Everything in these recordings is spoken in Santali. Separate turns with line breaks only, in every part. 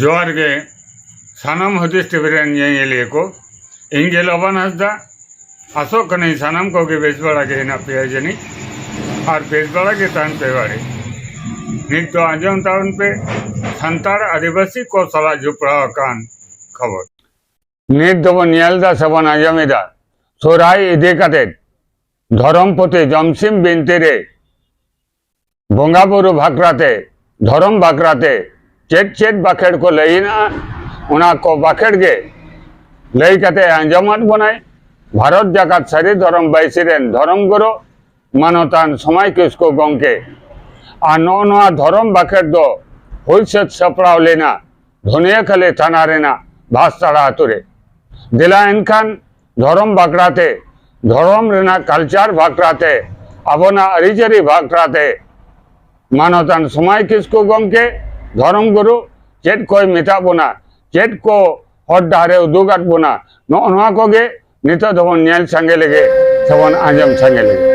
ᱡᱚᱦᱟᱨ ᱜᱮ ᱥᱟᱱᱟᱢ ᱦᱩᱫᱤᱥ ᱴᱤᱵᱷᱤ ᱨᱮᱱ ᱧᱮᱧᱮᱞᱤᱭᱟᱹ ᱠᱚ ᱤᱧ ᱜᱮ ᱞᱚᱵᱟᱱ ᱦᱟᱸᱥᱫᱟ ᱟᱥᱚᱜ ᱠᱟᱹᱱᱟᱹᱧ ᱥᱟᱱᱟᱢ ᱠᱚᱜᱮ ᱵᱮᱥ ᱵᱟᱲᱟ ᱜᱮ ᱦᱮᱱᱟᱜ ᱯᱮᱭᱟ ᱡᱟᱹᱱᱤᱡ ᱟᱨ ᱵᱮᱥ ᱵᱟᱲᱟ ᱜᱮ ᱛᱟᱦᱮᱱ ᱯᱮ ᱵᱟᱲᱮ ᱱᱤᱛ ᱫᱚ ᱟᱸᱡᱚᱢ ᱛᱟᱵᱚᱱ ᱯᱮ ᱥᱟᱱᱛᱟᱲ ᱟᱹᱫᱤᱵᱟᱹᱥᱤ ᱠᱚ ᱥᱟᱞᱟᱜ ᱡᱚᱯᱲᱟᱣ ᱟᱠᱟᱱ ᱠᱷᱚᱵᱚᱨ ᱱᱤᱛ ᱫᱚᱵᱚᱱ ᱧᱮᱞ ᱮᱫᱟ ᱥᱮᱵᱚᱱ ᱟᱸᱡᱚᱢ ᱮᱫᱟ ᱥᱚᱨᱦᱟᱭ ᱤᱫᱤ ᱠᱟᱛᱮᱫ ᱫᱷᱚᱨᱚᱢ ᱯᱩᱛᱷᱤ ᱡᱚᱢᱥᱤᱢ ᱵᱤᱱᱛᱤ ᱨᱮ ᱵᱚᱸᱜᱟ ᱵᱩᱨᱩ ᱵᱷᱟᱠᱨᱟ ᱛᱮ ᱫᱷᱚᱨᱚᱢ ᱵᱷᱟᱠᱨᱟ ᱛᱮ ᱪᱮᱫ ᱪᱮᱫ ᱵᱟᱠᱷᱮᱲ ᱠᱚ ᱞᱟᱹᱭ ᱦᱮᱱᱟᱜᱼᱟ ᱚᱱᱟ ᱠᱚ ᱵᱟᱠᱷᱮᱲ ᱜᱮ ᱞᱟᱹᱭ ᱠᱟᱛᱮ ᱟᱸᱡᱚᱢᱟᱫ ᱵᱚᱱᱟᱭ ᱵᱷᱟᱨᱚᱛ ᱡᱟᱠᱟᱛ ᱥᱟᱹᱨᱤ ᱫᱷᱚᱨᱚᱢ ᱵᱟᱹᱭᱥᱤ ᱨᱮᱱ ᱫᱷᱚᱨᱚᱢ ᱜᱩᱨᱩ ᱢᱟᱱᱚᱛᱟᱱ ᱥᱚᱢᱟᱭ ᱠᱤᱥᱠᱩ ᱜᱚᱢᱠᱮ ᱟᱨ ᱱᱚᱜᱼᱚ ᱱᱚᱣᱟ ᱫᱷᱚᱨᱚᱢ ᱵᱟᱠᱷᱮᱲ ᱫᱚ ᱦᱩᱭ ᱥᱟᱹᱛ ᱥᱟᱯᱲᱟᱣ ᱞᱮᱱᱟ ᱫᱷᱚᱱᱤᱭᱟᱹᱠᱷᱟᱞᱤ ᱛᱷᱟᱱᱟ ᱨᱮᱱᱟᱜ ᱵᱷᱟᱥᱛᱟᱲᱟ ᱟᱛᱳ ᱨᱮ ᱫᱮᱞᱟ ᱮᱱᱠᱷᱟᱱ ᱫᱷᱚᱨᱚᱢ ᱵᱟᱠᱷᱨᱟ ᱛᱮ ᱫᱷᱚᱨᱚᱢ ᱨᱮᱱᱟᱜ ᱠᱟᱞᱪᱟᱨ ᱵᱟᱠᱷᱨᱟ ᱛᱮ ᱟᱵᱚᱱᱟᱜ ᱟᱹᱨᱤᱪᱟᱹᱞᱤ ᱵᱟᱠᱷᱨᱟ ᱛᱮ ᱢᱟᱱᱚᱛᱟᱱ ᱥᱚᱢᱟᱭ ᱠᱤᱥᱠᱩ ᱜᱚᱢᱠᱮ ᱫᱷᱚᱨᱚᱢ ᱜᱩᱨᱩ ᱪᱮᱫ ᱠᱚᱭ ᱢᱮᱛᱟᱜ ᱵᱚᱱᱟ ᱪᱮᱫ ᱠᱚ ᱦᱚᱨ ᱰᱟᱦᱟᱨᱮ ᱩᱫᱩᱜᱟᱫ ᱵᱚᱱᱟ ᱱᱚᱜᱼᱚ ᱱᱚᱣᱟ ᱠᱚᱜᱮ ᱱᱤᱛᱚᱜ ᱫᱚᱵᱚᱱ ᱧᱮᱞ ᱥᱟᱸᱜᱮ ᱞᱮᱜᱮ ᱥᱮᱵᱚᱱ ᱟᱸᱡᱚᱢ ᱥᱟᱸᱜᱮ ᱞᱮᱜᱮ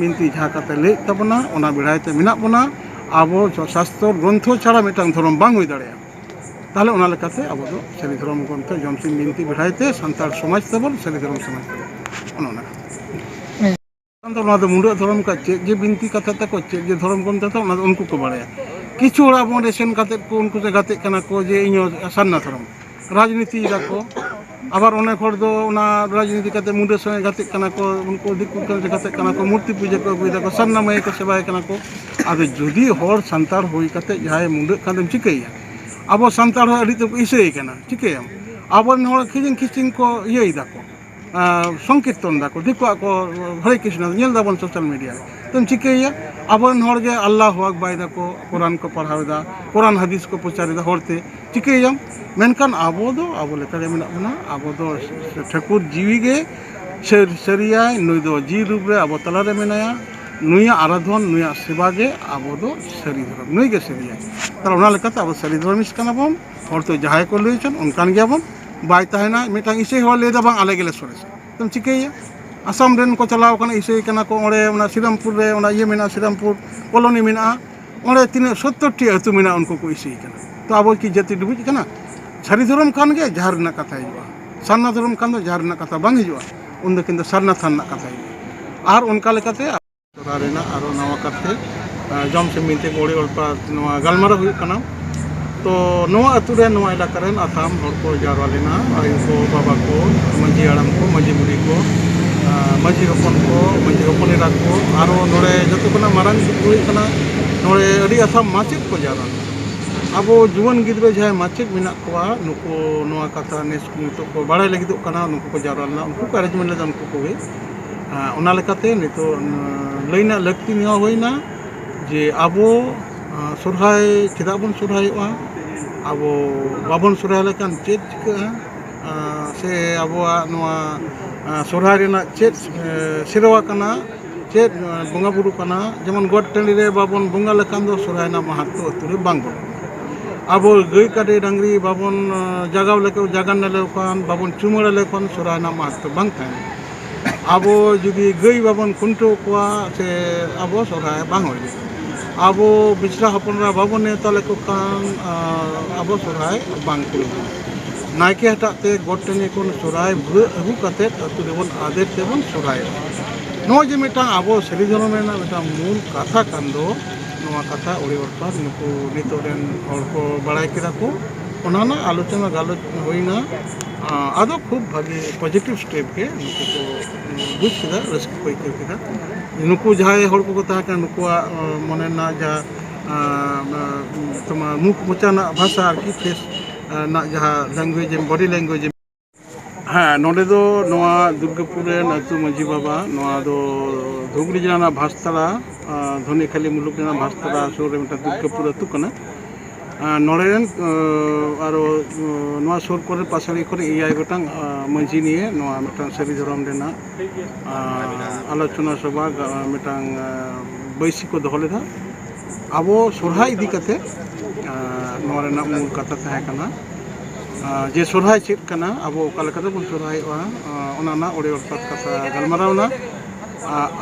ᱵᱤᱱᱛᱤ ᱡᱟᱦᱟᱸ ᱠᱟᱛᱮ ᱞᱟᱹᱭᱮᱫ ᱛᱟᱵᱚᱱᱟ ᱚᱱᱟ ᱵᱮᱲᱟᱭ ᱛᱮ ᱢᱮᱱᱟᱜ ᱵᱚᱱᱟ ᱟᱵᱚ ᱥᱟᱥᱛᱚ ᱜᱨᱚᱱᱛᱷᱚ ᱪᱷᱟᱲᱟ ᱢᱤᱫᱴᱟᱝ ᱫᱷᱚᱨᱚᱢ ᱵᱟᱝ ᱦᱩᱭ ᱫᱟᱲᱮᱭᱟᱜᱼᱟ ᱛᱟᱦᱚᱞᱮ ᱚᱱᱟ ᱞᱮᱠᱟᱛᱮ ᱟᱵᱚ ᱫᱚ ᱥᱟᱹᱨᱤ ᱫᱷᱚᱨᱚᱢ ᱜᱨᱚᱱᱛᱷᱚ ᱡᱚᱢᱥᱤᱢ ᱵᱤᱱᱛᱤ ᱵᱮᱲᱟᱭ ᱛᱮ ᱥᱟᱱᱛᱟᱲ ᱥᱚᱢᱟᱡᱽ ᱛᱟᱵᱚᱱ ᱥᱟᱹᱨᱤ ᱫᱷᱚᱨᱚᱢ ᱥᱚᱢᱟᱡᱽ ᱛᱟᱵᱚᱱ ᱚᱱᱟ ᱫᱚ ᱱᱚᱣᱟ ᱫᱚ ᱢᱩᱰᱟᱹ ᱫᱷᱚᱨᱚᱢ ᱠᱚ ᱪᱮᱫ ᱡᱮ ᱵᱤᱱᱛᱤ ᱠᱟᱛᱷᱟ ᱛᱟᱠᱚ ᱪᱮᱫ ᱡᱮ ᱫᱷᱚᱨᱚᱢ ᱠᱚ ᱢᱮᱛᱟᱜ ᱚᱱᱟ ᱫᱚ ᱩᱱᱠᱩ ᱠᱚ ᱵᱟᱲᱟᱭᱟ ᱠᱤᱪᱷᱩ ᱦᱚᱲ ᱟᱵᱚ ᱚᱸᱰᱮ ᱥᱮᱱ ᱠᱟᱛᱮᱫ ᱠᱚ ᱩᱱᱠᱩ ᱥᱮ ᱜᱟᱛᱮᱜ ᱠᱟᱱᱟ ᱠᱚ ᱡᱮ ᱤᱧ ᱦᱚᱸ ᱥᱟᱨᱱᱟ ᱫᱷᱚᱨᱚᱢ ᱨᱟᱡᱽᱱᱤᱛᱤ ᱫᱟᱠᱚ ᱟᱵᱟᱨ ᱚᱱᱮᱠ ᱦᱚᱲ ᱫᱚ ᱚᱱᱟ ᱨᱟᱡᱽᱱᱤᱛᱤ ᱠᱟᱛᱮ ᱢᱩᱰᱟᱹ ᱥᱚᱸᱜᱮ ᱜᱟᱛᱮᱜ ᱠᱟᱱᱟ ᱠᱚ ᱩᱱᱠᱩ ᱫᱤᱠᱩ ᱠᱚ ᱜᱟᱛᱮᱜ ᱠᱟᱱᱟ ᱠᱚ ᱢᱩᱨᱛᱤ ᱯᱩᱡᱟᱹ ᱠᱚ ᱟᱹᱜᱩᱭ ᱫᱟᱠᱚ ᱥᱟᱨᱱᱟ ᱢᱟᱹᱭ ᱠᱚ ᱥᱮᱵᱟᱭ ᱠᱟᱱᱟ ᱠᱚ ᱟᱫᱚ ᱡᱩᱫᱤ ᱦᱚᱲ ᱥᱟᱱᱛᱟᱲ ᱦᱩᱭ ᱠᱟᱛᱮ ᱡᱟᱦᱟᱸᱭ ᱢᱩᱰᱟᱹᱜ ᱠᱷᱟᱱ ᱫᱚᱢ ᱪᱤᱠᱟᱹᱭᱮᱭᱟ ᱟᱵᱚ ᱥᱟᱱᱛᱟᱲ ᱦᱚᱸ ᱟᱹᱰᱤ ᱛᱮᱫ ᱠᱚ ᱤᱥᱟᱹᱭᱮ ᱠᱟᱱᱟ ᱪᱤᱠᱟᱹᱭᱟᱢ ᱟᱵᱚᱨᱮᱱ ᱦᱚᱲ ᱠᱷᱤᱪᱤᱝ ᱠᱷᱤᱪᱤᱝ ᱠᱚ ᱤᱭᱟᱹᱭ ᱫᱟᱠᱚ ᱥᱚᱝᱠᱤᱨᱛᱚᱱ ᱫᱟᱠᱚ ᱫᱤᱠᱩᱣᱟᱜ ᱠᱚ ᱦᱚᱨᱮ ᱠᱨᱤᱥᱱᱚ ᱧᱮᱞ ᱫᱟᱵᱚᱱ ᱥᱳᱥᱟᱞ ᱢᱤᱰᱤᱭᱟ ᱨᱮ ᱛᱚᱢ ᱪᱤᱠᱟᱹᱭᱮᱭᱟ ᱟᱵᱚᱨᱮᱱ ᱦᱚᱲ ᱜᱮ ᱟᱞᱞᱟᱦ ᱟᱠᱵᱟᱭ ᱫᱟᱠᱚ ᱠᱳᱨᱟᱱ ᱠᱚ ᱯᱟᱲᱦᱟᱣ ᱮᱫᱟ ᱠᱳᱨᱟᱱ ᱦᱟᱫᱤᱥ ᱠᱚ ᱯᱨᱚᱪᱟᱨᱮᱫᱟ ᱦᱚᱲᱛᱮ ᱪᱤᱠᱟᱹᱭᱮᱭᱟᱢ ᱢᱮᱱᱠᱷᱟᱱ ᱟᱵᱚ ᱫᱚ ᱟᱵᱚ ᱞᱮᱠᱟᱜᱮ ᱢᱮᱱᱟᱜ ᱵᱚᱱᱟ ᱟᱵᱚ ᱫᱚ ᱴᱷᱟᱹᱠᱩᱨ ᱡᱤᱣᱤ ᱜᱮ ᱥᱟᱹᱨᱤᱭᱟᱭ ᱱᱩᱭ ᱫᱚ ᱡᱤᱣᱤ ᱨᱩᱯ ᱨᱮ ᱟᱵᱚ ᱛᱟᱞᱟᱨᱮ ᱢᱮᱱᱟᱭᱟ ᱱᱩᱭᱟᱜ ᱟᱨᱟᱫᱷᱚᱱ ᱱᱩᱭᱟᱜ ᱥᱮᱵᱟ ᱜᱮ ᱟᱵᱚ ᱫᱚ ᱥᱟᱹᱨᱤ ᱫᱷᱚᱨᱚᱢ ᱱᱩᱭ ᱜᱮ ᱥᱟᱹᱨᱤᱭᱟᱭ ᱛᱟᱦᱚᱞᱮ ᱚᱱᱟ ᱞᱮᱠᱟᱛᱮ ᱟᱵᱚ ᱥᱟᱹᱨᱤ ᱫᱷᱚᱨᱚᱢᱤᱥᱴ ᱠᱟᱱᱟ ᱵᱚᱱ ᱦᱚᱲ ᱛᱚ ᱡᱟᱦᱟᱸᱭ ᱠᱚ ᱞᱟᱹᱭ ᱦᱚᱪᱚᱱ ᱚᱱᱠᱟᱱ ᱜᱮᱭᱟᱵᱚᱱ ᱵᱟᱭ ᱛᱟᱦᱮᱱᱟ ᱢᱤᱫᱴᱟᱝ ᱤᱥᱟᱹᱭ ᱦᱚᱲ ᱞᱟᱹᱭᱫᱟ ᱵᱟᱝ ᱟᱞᱮ ᱜᱮᱞᱮ ᱥᱚᱨᱮᱥᱟ ᱟᱫᱚᱢ ᱪᱤᱠᱟᱹᱭᱮᱭᱟ ᱟᱥᱟᱢ ᱨᱮᱱ ᱠᱚ ᱪᱟᱞᱟᱣ ᱠᱟᱱᱟ ᱤᱥᱟᱹᱭ ᱠᱟᱱᱟ ᱠᱚ ᱚᱸᱰᱮ ᱚᱱᱟ ᱥᱨᱤᱨᱟᱢᱯᱩᱨ ᱨᱮ ᱚᱱᱟ ᱤᱭᱟᱹ ᱢᱮᱱᱟᱜᱼᱟ ᱥᱨᱤᱨᱟᱢᱯᱩᱨ ᱠᱚᱞᱳᱱᱤ ᱢᱮᱱᱟᱜᱼᱟ ᱚᱸᱰᱮ ᱛᱤᱱᱟᱹᱜ ᱥᱳᱛᱛᱳᱨ ᱴᱤ ᱟᱹᱛᱩ ᱢᱮᱱᱟᱜᱼᱟ ᱩᱱᱠᱩ ᱠᱚ ᱤᱥᱟᱹᱭ ᱠᱟᱱᱟ ᱛᱚ ᱟᱵᱚ ᱠᱤ ᱡᱟᱹᱛᱤ ᱰᱩᱵᱩᱡ ᱠᱟᱱᱟ ᱥᱟᱹᱨᱤ ᱫᱷᱚᱨᱚᱢ ᱠᱟᱱ ᱜᱮᱭᱟ ᱡᱟᱦᱟᱸ ᱨᱮᱱᱟᱜ ᱠᱟᱛᱷᱟ ᱦᱤᱡᱩᱜᱼᱟ ᱥᱟᱨᱱᱟ ᱫᱷᱚᱨᱚᱢ ᱠᱷᱟᱱ ᱫᱚ ᱡᱟᱦᱟᱸ ᱨᱮᱱᱟᱜ ᱠᱟᱛᱷᱟ ᱵᱟᱝ ᱦᱤᱡᱩᱜᱼᱟ ᱩᱱᱫᱚ ᱠᱤᱱᱛᱩ ᱥᱟᱨᱱᱟ ᱛᱷᱟᱱ ᱨᱮᱱᱟᱜ ᱠᱟᱛᱷᱟ ᱦᱤᱡᱩᱜᱼᱟ ᱟᱨ ᱚᱱᱠᱟ ᱞᱮᱠᱟᱛᱮ ᱥᱚᱨᱟ ᱨᱮᱱᱟᱜ ᱟᱨᱚ ᱱᱟᱣᱟ ᱠᱟᱛᱮ ᱡᱚᱢ ᱥᱮᱢᱤ ᱛᱮ ᱜᱚᱲᱤ ᱚᱞᱯᱟ ᱱᱚᱣᱟ ᱜᱟᱞᱢᱟᱨᱟᱣ ᱦᱩᱭᱩᱜ ᱠᱟᱱᱟ ᱛᱚ ᱱᱚᱣᱟ ᱟᱹᱛᱩ ᱨᱮ ᱱᱚᱣᱟ ᱮᱞᱟᱠᱟ ᱨᱮᱱ ᱟᱛᱟᱢ ᱦᱚᱲ ᱠᱚ ᱡᱟᱣᱨᱟ ᱞᱮᱱᱟ ᱟᱭᱳ ᱠᱚ ᱵᱟᱵᱟ ᱠᱚ ᱢᱟᱺᱡᱷᱤ ᱦᱟᱲᱟᱢ ᱠᱚ ᱢᱟᱺᱡᱷᱤ ᱵᱩᱲᱦᱤ ᱠᱚ ᱟᱨ ᱢᱟᱺᱡᱷᱤ ᱦᱚᱯᱚᱱ ᱠᱚ ᱢᱟᱺᱡᱷᱤ ᱦᱚᱯᱚᱱ ᱮᱨᱟ ᱠᱚ ᱟᱨᱚ ᱱᱚᱰᱮ ᱡᱚᱛᱚ ᱠᱷᱚᱱᱟᱜ ᱢᱟᱨᱟᱝ ᱫᱩᱠ ᱦᱩᱭᱩᱜ ᱠᱟᱱᱟ ᱱᱚᱰᱮ ᱟᱹᱰᱤ ᱟᱛᱟᱢ ᱢᱟᱪᱮᱫ ᱠᱚ ᱡᱟᱣᱨᱟ ᱞᱮᱱᱟ ᱟᱵᱚ ᱡᱩᱣᱟᱹᱱ ᱜᱤᱫᱽᱨᱟᱹ ᱡᱟᱦᱟᱸᱭ ᱢᱟᱪᱮᱫ ᱢᱮᱱᱟᱜ ᱠᱚᱣᱟ ᱱᱩᱠᱩ ᱱᱚᱣᱟ ᱠᱟᱛᱷᱟ ᱱᱮᱥ ᱱᱤᱛᱚᱜ ᱠᱚ ᱵᱟᱲᱟᱭ ᱞᱟᱹᱜᱤᱫᱚᱜ ᱠᱟᱱᱟ ᱱᱩᱠᱩ ᱠᱚ ᱡᱟᱣᱨᱟ ᱞᱮᱱᱟ ᱩᱱᱠᱩ ᱠᱚ ᱮᱨᱮᱧᱡᱽᱢᱮᱱᱴ ᱞᱮᱫᱟ ᱩᱱᱠᱩ ᱠᱚᱜᱮ ᱚᱱᱟ ᱞᱮᱠᱟᱛᱮ ᱱᱤᱛᱚᱜ ᱞᱟᱹᱭ ᱨᱮᱱᱟᱜ ᱞᱟᱹᱠᱛᱤ ᱱᱚᱣᱟ ᱦᱩᱭᱱᱟ ᱡᱮ ᱟᱵᱚ ᱥᱚᱦᱨᱟᱭ ᱪᱮᱫᱟᱜ ᱵᱚᱱ ᱥᱚᱦᱨᱟᱭᱚᱜᱼᱟ ᱟᱵᱚ ᱵᱟᱵᱚᱱ ᱥᱚᱦᱨᱟᱭ ᱞᱮᱱᱠᱷᱟᱱ ᱪᱮᱫ ᱪᱤᱠᱟᱹᱜᱼᱟ ᱥᱮ ᱟᱵᱚᱣᱟᱜ ᱱᱚᱣᱟ ᱥᱚᱦᱨᱟᱭ ᱨᱮᱱᱟᱜ ᱪᱮᱫ ᱥᱮᱨᱣᱟ ᱠᱟᱱᱟ ᱪᱮᱫ ᱵᱚᱸᱜᱟᱼᱵᱩᱨᱩ ᱠᱟᱱᱟ ᱡᱮᱢᱚᱱ ᱜᱚᱴ ᱴᱟᱺᱰᱤ ᱨᱮ ᱵᱟᱵᱚᱱ ᱵᱚᱸᱜᱟ ᱞᱮᱠᱷᱟᱱ ᱫᱚ ᱥᱚᱦᱨᱟᱭ ᱨᱮᱱᱟᱜ ᱢᱟᱦᱟᱛᱛᱚ ᱟᱹᱛᱩ ᱨᱮ ᱵᱟᱝ ᱵᱚᱞᱚᱱᱟ ᱟᱵᱚ ᱜᱟᱹᱭ ᱠᱟᱰᱮ ᱰᱟᱹᱝᱨᱤ ᱵᱟᱵᱚᱱ ᱡᱟᱜᱟᱣ ᱞᱮᱠᱚ ᱡᱟᱜᱟᱱᱱᱟ ᱞᱮᱠᱚ ᱠᱷᱟᱱ ᱵᱟᱵᱚᱱ ᱪᱩᱢᱟᱹᱲᱟ ᱞᱮᱠᱚ ᱠᱷᱟᱱ ᱥᱚᱦᱨᱟᱭ ᱨᱮᱱᱟᱜ ᱢᱟᱦᱟᱛᱛᱚ ᱵᱟᱝ ᱛᱟᱦᱮᱱᱟ ᱟᱵᱚ ᱡᱩᱫᱤ ᱜᱟᱹᱭ ᱵᱟᱵᱚᱱ ᱠᱷᱩᱱᱴᱟᱹᱣ ᱠᱚᱣᱟ ᱥᱮ ᱟᱵᱚ ᱥᱚᱦᱨᱟᱭ ᱵᱟᱝ ᱦᱩᱭᱩᱜᱼᱟ ᱟᱵᱚ ᱢᱤᱥᱨᱟ ᱦᱚᱯᱚᱱ ᱮᱨᱟ ᱵᱟᱵᱚᱱ ᱱᱮᱶᱛᱟ ᱞᱮᱠᱚ ᱠᱷᱟᱱ ᱟᱵᱚ ᱥᱚᱦᱨᱟᱭ ᱵᱟᱝ ᱯᱩᱨᱟᱹᱜᱼᱟ ᱱᱟᱭᱠᱮ ᱦᱟᱴᱟᱜ ᱛᱮ ᱜᱚᱴ ᱴᱟᱺᱰᱤ ᱠᱷᱚᱱ ᱥᱚᱦᱨᱟᱭ ᱵᱷᱩᱣᱟᱹᱜ ᱟᱹᱜᱩ ᱠᱟᱛᱮ ᱟᱹᱛᱩ ᱨᱮᱵᱚᱱ ᱟᱫᱮᱨ ᱛᱮᱵᱚᱱ ᱥᱚᱦᱨᱟᱭᱚᱜᱼᱟ ᱱᱚᱜᱼᱚᱭ ᱡᱮ ᱢᱤᱫᱴᱟᱝ ᱟᱵᱚ ᱥᱟᱹᱨᱤ ᱫᱷᱚᱨᱚᱢ ᱨᱮᱱᱟᱜ ᱢᱤᱫᱴᱟᱝ ᱢᱩᱞ ᱠᱟᱛᱷᱟ ᱠᱟᱱ ᱫᱚ ᱱᱚᱣᱟ ᱠᱟᱛᱷᱟ ᱟᱹᱰᱤ ᱚᱨᱛᱷᱟᱛ ᱱᱩᱠᱩ ᱱᱤᱛᱚᱜ ᱨᱮᱱ ᱦᱚᱲ ᱠᱚ ᱵᱟᱲᱟᱭ ᱠᱮᱫᱟ ᱠᱚ ᱚᱱᱟ ᱨᱮᱱᱟᱜ ᱟᱞᱳᱪᱚᱱᱟ ᱜᱟᱞᱚᱪ ᱦᱩᱭᱱᱟ ᱟᱫᱚ ᱠᱷᱩᱵ ᱵᱷᱟᱜᱮ ᱯᱚᱡᱮᱴᱤᱵᱷ ᱥᱴᱮᱯ ᱜᱮ ᱱᱩᱠᱩ ᱠᱚ ᱵᱩᱡᱽ ᱠᱮᱫᱟ ᱨᱟᱹᱥᱠᱟᱹ ᱠᱚ ᱟᱹᱭᱠᱟᱹᱣ ᱠᱮᱫᱟ ᱱᱩᱠᱩ ᱡᱟᱦᱟᱸᱭ ᱦᱚᱲ ᱠᱚᱠᱚ ᱛᱟᱦᱮᱸ ᱠᱟᱱᱟ ᱱᱩᱠᱩᱣᱟᱜ ᱢᱚᱱᱮ ᱨᱮᱱᱟᱜ ᱡᱟᱦᱟᱸ ᱛᱳᱢᱟᱨ ᱢᱩᱠᱷ ᱢᱚᱪᱟ ᱨᱮᱱᱟᱜ ᱵᱷᱟᱥᱟ ᱟᱨᱠᱤ ᱯᱷᱮᱥ ᱨᱮᱱᱟᱜ ᱡᱟᱦᱟᱸ ᱞᱮᱝᱜᱩᱭᱮᱡᱽ ᱵᱚᱰᱤ ᱞᱮᱝᱜᱩᱭᱮᱡᱽ ᱦᱮᱸ ᱱᱚᱰᱮ ᱫᱚ ᱱᱚᱣᱟ ᱫᱩᱨᱜᱟᱯᱩᱨ ᱨᱮᱱ ᱟᱹᱛᱩ ᱢᱟᱺᱡᱷᱤ ᱵᱟᱵᱟ ᱱᱚᱣᱟ ᱫᱚ ᱫᱷᱩᱵᱽᱲᱤ ᱡᱮᱞᱟ ᱨᱮᱱᱟᱜ ᱵᱷᱟᱥᱛᱟᱲᱟ ᱫᱷᱚᱱᱤᱠᱷᱟᱞᱤ ᱢᱩᱞᱩᱠ ᱨᱮᱱᱟᱜ ᱵᱷᱟᱥᱛᱟᱲᱟ ᱥᱩᱨ ᱨᱮ ᱢᱤᱫᱴᱟᱝ ᱫᱩᱨᱜᱟᱯᱩᱨ ᱟᱹᱛᱩ ᱠᱟᱱᱟ ᱱᱚᱰᱮ ᱨᱮᱱ ᱟᱨᱚ ᱱᱚᱣᱟ ᱥᱩᱨ ᱠᱚᱨᱮ ᱯᱟᱥᱟᱲᱤ ᱠᱚᱨᱮ ᱮᱭᱟᱭ ᱜᱚᱴᱟᱝ ᱢᱟᱺᱡᱷᱤ ᱱᱤᱭᱮ ᱱᱚᱣᱟ ᱢᱤᱫᱴᱟᱝ ᱥᱟᱹᱨᱤ ᱫᱷᱚᱨᱚᱢ ᱨᱮᱱᱟᱜ ᱟᱞᱳᱪᱚᱱᱟ ᱥᱚᱵᱷᱟ ᱢᱤᱫᱴᱟᱝ ᱵᱟᱹᱭᱥᱤ ᱠᱚ ᱫᱚᱦᱚ ᱞᱮᱫᱟ ᱟᱵᱚ ᱥᱚᱨᱦᱟᱭ ᱤᱫᱤ ᱠᱟᱛᱮ ᱱᱚᱣᱟ ᱨᱮᱱᱟᱜ ᱢᱩᱞ ᱠᱟᱛᱷᱟ ᱛᱟᱦᱮᱸ ᱠᱟᱱᱟ ᱡᱮ ᱥᱚᱨᱦᱟᱭ ᱪᱮᱫ ᱠᱟᱱᱟ ᱟᱵᱚ ᱚᱠᱟ ᱞᱮᱠᱟ ᱛᱮᱵᱚᱱ ᱥᱚᱨᱦᱟᱭᱚᱜᱼᱟ ᱚᱱᱟ ᱨᱮᱱᱟᱜ ᱚᱲᱮ ᱚᱨᱯᱟᱛ ᱠᱟᱛᱷᱟ ᱜᱟᱞᱢᱟᱨᱟᱣᱱᱟ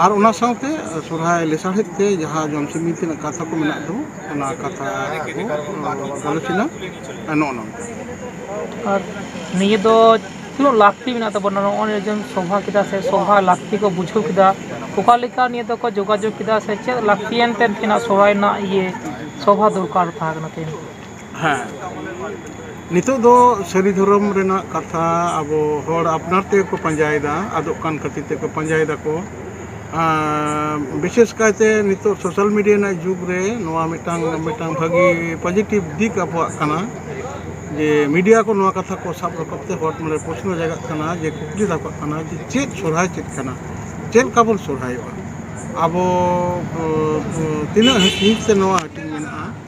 ᱟᱨ ᱚᱱᱟ ᱥᱟᱶᱛᱮ ᱥᱚᱨᱦᱟᱭ ᱞᱮᱥᱟᱲᱦᱮᱫ ᱛᱮ ᱡᱟᱦᱟᱸ ᱡᱚᱢ ᱥᱤᱢᱤ ᱛᱮᱱᱟᱜ ᱠᱟᱛᱷᱟ ᱠᱚ ᱢᱮᱱᱟᱜ ᱫᱚ ᱚᱱᱟ ᱠᱟᱛᱷᱟ ᱟᱞᱳᱪᱚᱱᱟ ᱱᱚᱜᱼᱚ ᱱᱚᱝᱠᱟ
ᱟᱨ ᱱᱤᱭᱟᱹ ᱫᱚ ᱛᱤᱱᱟᱹᱜ ᱞᱟᱹᱠᱛᱤ ᱢᱮᱱᱟᱜ ᱛᱟᱵᱚᱱᱟ ᱱᱚᱜᱼᱚᱭ ᱡᱮᱢ ᱥᱚᱵᱷᱟ ᱠᱮᱫᱟ ᱥᱮ ᱥᱚᱵᱷᱟ ᱞᱟᱹᱠᱛᱤ ᱠᱚ ᱵᱩᱡᱷᱟᱹᱣ ᱠᱮᱫᱟ ᱚᱠᱟ ᱞᱮᱠᱟ ᱱᱤᱭᱟᱹ ᱫᱚᱠᱚ ᱡᱳᱜᱟᱡᱳᱜᱽ ᱠᱮᱫᱟ ᱥᱮ ᱪᱮᱫ ᱞᱟᱹᱠᱛᱤᱭᱟᱱ ᱛᱮ ᱛᱮᱱᱟᱜ ᱥᱚᱦᱨᱟᱭ ᱨᱮᱱᱟᱜ ᱤᱭᱟᱹ ᱥᱚᱵᱷᱟ ᱫᱚᱨᱠᱟᱨ ᱛᱟᱦᱮᱸ ᱠᱟᱱᱟ ᱛᱮᱦᱮᱧ ᱦᱮᱸ
ᱱᱤᱛᱚᱜ ᱫᱚ ᱥᱟᱹᱨᱤ ᱫᱷᱚᱨᱚᱢ ᱨᱮᱱᱟᱜ ᱠᱟᱛᱷᱟ ᱟᱵᱚ ᱦᱚᱲ ᱟᱯᱱᱟᱨ ᱛᱮᱜᱮ ᱠᱚ ᱯᱟᱸᱡᱟᱭᱮᱫᱟ ᱟᱫᱚᱜ ᱠᱟᱱ ᱠᱷᱟᱹᱛᱤᱨ ᱛᱮᱠᱚ ᱯᱟᱸᱡᱟᱭ ᱫᱟᱠᱚ ᱵᱤᱥᱮᱥ ᱠᱟᱭᱛᱮ ᱱᱤᱛᱚᱜ ᱥᱳᱥᱟᱞ ᱢᱤᱰᱤᱭᱟ ᱨᱮᱱᱟᱜ ᱡᱩᱜᱽ ᱨᱮ ᱱᱚᱣᱟ ᱢᱤᱫᱴᱟᱝ ᱢᱤᱫᱴᱟᱝ ᱵᱷᱟᱹᱜᱤ ᱯᱚᱡᱮᱴᱤᱵᱽ ᱫᱤᱠ ᱟᱵᱚᱣᱟᱜ ᱠᱟᱱᱟ ᱡᱮ ᱢᱤᱰᱤᱭᱟ ᱠᱚ ᱱᱚᱣᱟ ᱠᱟᱛᱷᱟ ᱠᱚ ᱥᱟᱵ ᱨᱟᱠᱟᱵ ᱛᱮ ᱦᱚᱲ ᱢᱚᱱᱮ ᱨᱮ ᱯᱨᱚᱥᱱᱚ ᱡᱟᱜᱟᱜ ᱠᱟᱱᱟ ᱡᱮ ᱠᱩᱠᱞᱤ ᱨᱟᱠᱟᱵ ᱠᱟᱱᱟ ᱡᱮ ᱪᱮᱫ ᱥᱚᱨᱦᱟᱭ ᱪᱮᱫ ᱠᱟᱱᱟ ᱪᱮᱫ ᱞᱮᱠᱟ ᱵᱚᱱ ᱥᱚᱨᱦᱟᱭᱚᱜᱼᱟ ᱟᱵᱚ ᱛᱤᱱᱟᱹᱜ ᱦᱤᱸᱥ ᱛᱮ ᱱᱚᱣᱟ ᱦᱟᱹᱴᱤᱧ ᱢᱮᱱᱟᱜᱼᱟ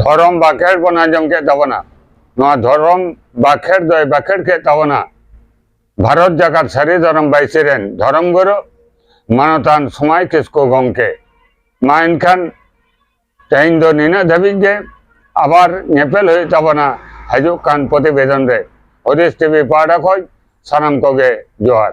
ᱫᱷᱚᱨᱚᱢ ᱵᱟᱠᱷᱮᱲ ᱵᱚᱱ ᱟᱸᱡᱚᱢ ᱠᱮᱫ ᱛᱟᱵᱚᱱᱟ ᱱᱚᱣᱟ ᱫᱷᱚᱨᱚᱢ ᱵᱟᱠᱷᱮᱲ ᱫᱚᱭ ᱵᱟᱠᱷᱮᱲ ᱠᱮᱫ ᱛᱟᱵᱚᱱᱟ ᱵᱷᱟᱨᱚᱛ ᱡᱟᱠᱟᱛ ᱥᱟᱹᱨᱤ ᱫᱷᱚᱨᱚᱢ ᱵᱟᱭᱥᱤ ᱨᱮᱱ ᱫᱷᱚᱨᱚᱢ ᱜᱩᱨᱩ ᱢᱟᱱᱚᱛᱟᱱ ᱥᱚᱢᱟᱭ ᱠᱤᱥᱠᱩ ᱜᱚᱢᱠᱮ ᱢᱟ ᱮᱱᱠᱷᱟᱱ ᱛᱮᱦᱮᱧ ᱫᱚ ᱱᱤᱱᱟᱹᱜ ᱫᱷᱟᱹᱵᱤᱡ ᱜᱮ ᱟᱵᱟᱨ ᱧᱮᱯᱮᱞ ᱦᱩᱭᱩᱜ ᱛᱟᱵᱚᱱᱟ ᱦᱤᱡᱩᱜ ᱠᱟᱱ ᱯᱨᱚᱛᱤᱵᱮᱫᱚᱱ ᱨᱮ ᱦᱩᱫᱤᱥ ᱴᱤᱵᱷᱤ ᱯᱟᱦᱴᱟ ᱠᱷᱚᱱ ᱥᱟᱱᱟᱢ ᱠᱚᱜᱮ ᱡᱚᱦᱟᱨ